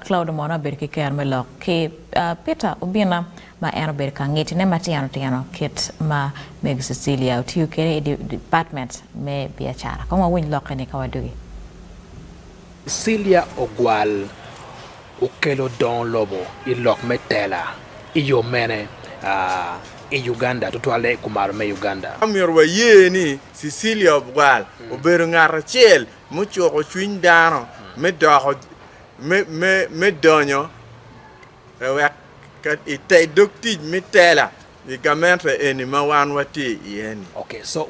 Claude mono abedo ki kero me lok ki Peter Obina ma en obedo ka ngitine matino tino kit ma Mego Cecilia otiyo kede i department me biacara. Kong wawiny lok eni ka wadugi. Cecilia Ogwal okelo dongo lobo i lok me tela i yo mene i Uganda, tutwalle i kumalo me Uganda? Omyero waye ni Cecilia Ogwal obedo ngat acel mucuko cwiny dano me doko me donyo i te dog tic me tela i gamente eni ma wan watye iye ni. Ok, so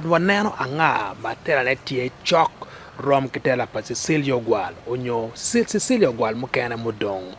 waneno anga ma telane tye cok rom ki tela pa Cecilia Ogwal onyo Cecilia Ogwal mukene mudong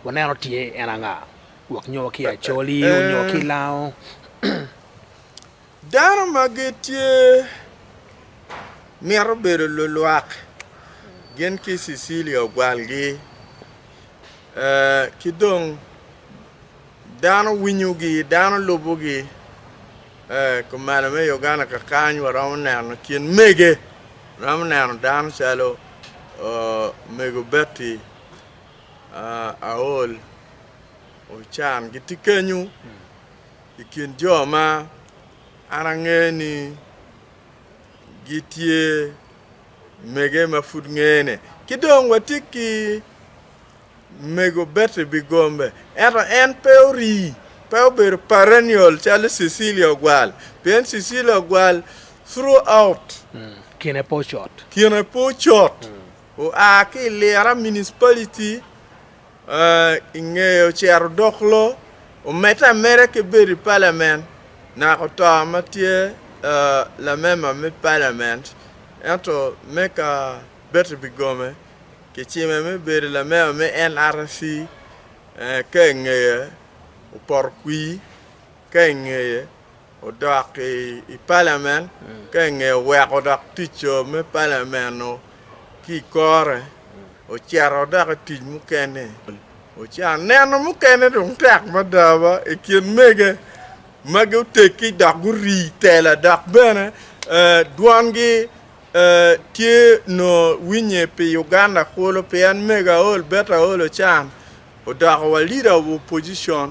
waneno tye en anga wek nyo ki Acholi nyo ki Lango. Dano ma gitye mito bedo lulwak gin ki Cecilia ogwalgi, ki dong dano winyogi, dano lubogi. Kumalo me Uganda kakany waromo neno kin mege, waromo neno dano calo mego Betty Aol Ochan gitye kenyu. I kin jo ma an angeyo ni gitye mege ma pud ngene, ki dong watye ki mego Betty Bigombe, ento en pe orii, pe obedo perennial calo Cecilia Ogwal, pien Cecilia Ogwal throughout kine pe ocot oa ki i Lira Municipality i ngeye ocito dok lo omedde ameda ki bedo i palament naka oto ma tye lamemba me palament ento me ka Betty Bigome kicime me bedo lamemba me NRC ka i ngeye opoto kwir ka i ngeye odok i palament ka i nge weko dok tic co me palament-nu ki i kore, ocito dok i tic mukene. Oca neno mukene dong tek mada ba i kin mege magi oteggi dok guri tela dok bene dwongi tye nongo winye pi Uganda kulu pien mega Aol Betta Aol Ocan odoko wa Leader of Opposition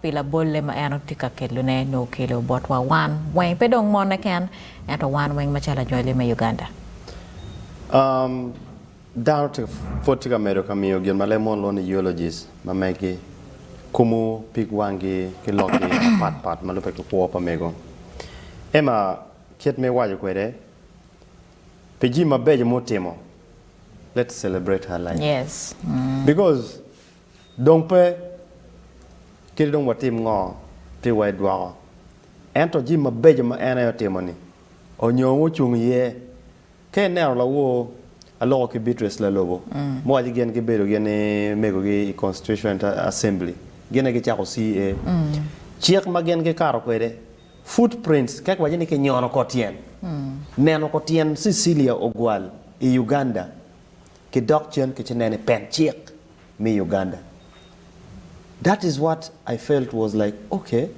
pi labolle ma en tye ka kelone nyo okelo botwa wan weng, pe dong mone ken, ento wan weng macalo anywali me Uganda. Dano pwod tye ka medo ka miyo gin ma leb mono lwongo ni eulogies ma megi, kumo pig wangi ki lokgi mapat pat ma lubbe ki kwo pa mego. Emma kit ma iwaco kwede, pi jami mabeco ma otimo, let's celebrate her life because Dong pe kit dong watim ngo pi wa edwoko. Ento jimi mabeco ma en aye otimoni onyo ongo ocung iye. Ka ineno lawor aloko ki Beatrice Lalobo muwaco gin gibedo gin ni mego gi i Constituent Assembly gin aye gicako CA. Cik ma gin gikato kwede, foot prints, kek waco ni kinyono kor tyen. Neno kor tyen Cecilia Ogwal i Uganda ki dok cen ki ci neno i pen cik. me Uganda that is what I felt was like ok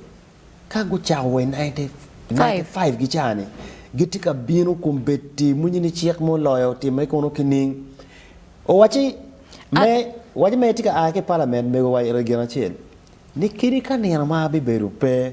ka gucako wa i ninety five ki ca ni gitye ka bino kombeddi mwenye ni cik mo loyo timme kunu kining owaci me waci me tye ka aa ki parliament mego wa Regina acel ni kadi ka nino ma abibedo pe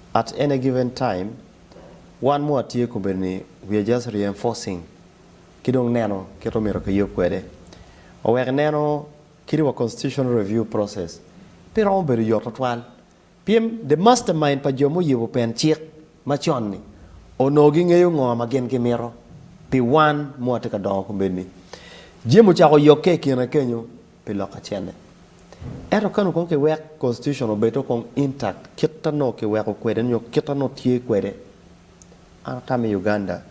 At any given time, wan moa tye kobedo ni we are just reinforcing ki dong neno kit omyero kiyub kwede. Owek ineno kit wa constitutional review process pe romo bedo yot twatwal pien the mastermind pa jo muyubo pen cik macon ni onongo gingeyo ngo ma gin gimito pi wan moa tye ka dongo kombeddi jami ocako yokke ikine kenyo. pi lok acel-li. Ento ka nongo kong kiwek Constitution obed-o kong intact kit ta nongo kiweko kwede nyo kit ta nongo tye kwede, an aka me Uganda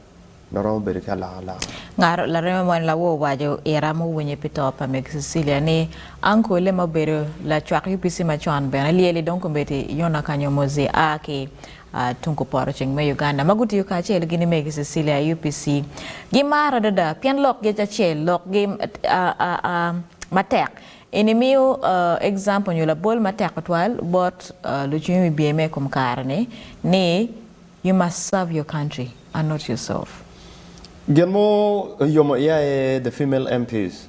dong romo bedo ki alokaloka. Ngat lareme mo en lawo owaco ira muwinye pi to pa Meg Cecilia ni, Ankole ma obedo lacwak UPC macon bene lyeli dong komiti Yona Kanyomozi a ki a tung kuporoceng me Uganda ma gutiyo kacel gini megi Cecilia UPC gi maro adada pien lok gi acel lok gi a a a matek eni miyo a example nyo labol matek tutwal bot a lucwiny wibye me ikom kare ni ni you must serve your country and not yourself. Gin mo oyomo iya aye the female MPs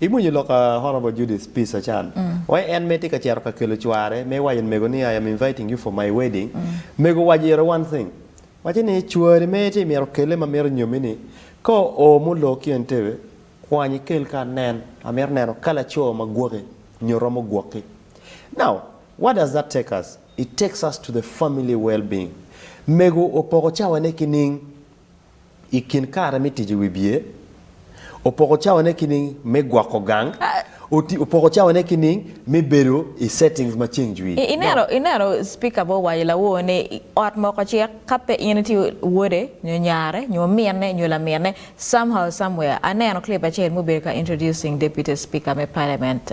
Imwonyo lok a Honourable Judith Peace Achan? Wai en mere tye ka cito ka kelo cware me waco ni mego ni I am inviting you for my wedding, mego waco iro one thing, waco ni cwari mere tye myero okelle ma mito nyomi ni ka oo ma olor ki Entebbe kwany ikel ka anen, amito neno ka laco ma gwoki nyo romo gwoki. Now what does that take us? It takes us to the family well being. Mego opoko cawane kining? I kin kare me tic i wi bye, opoko cawane ki nining me gwoko gang? Opoko cawane ki nining me bedo i settings ma ceng jwi? Ineno Spika bo waco lawor ni ot moko cek ka pe in itye wode nyo nyare nyo ominne nyo laminne somehow somewhere aneno clip acel mubedo ka introducing deputy speaker me parliament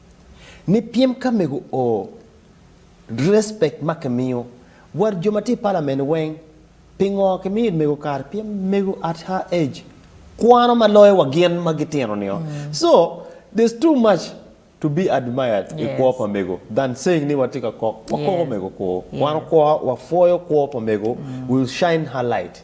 ni pyem ka mego o respect ma ki miyo wa jo ma tye i parliament weng pingo ki miyo mego kare pien mego at her age kwano ma loyo wa gin ma gi tino nio so there's too much to be admired yes. i kwo pa mego than saying ni wa tye ka kok wa koko yes. mego kwo yes. kwano kwo wa pwoyo kwo pa mego mm. will shine her light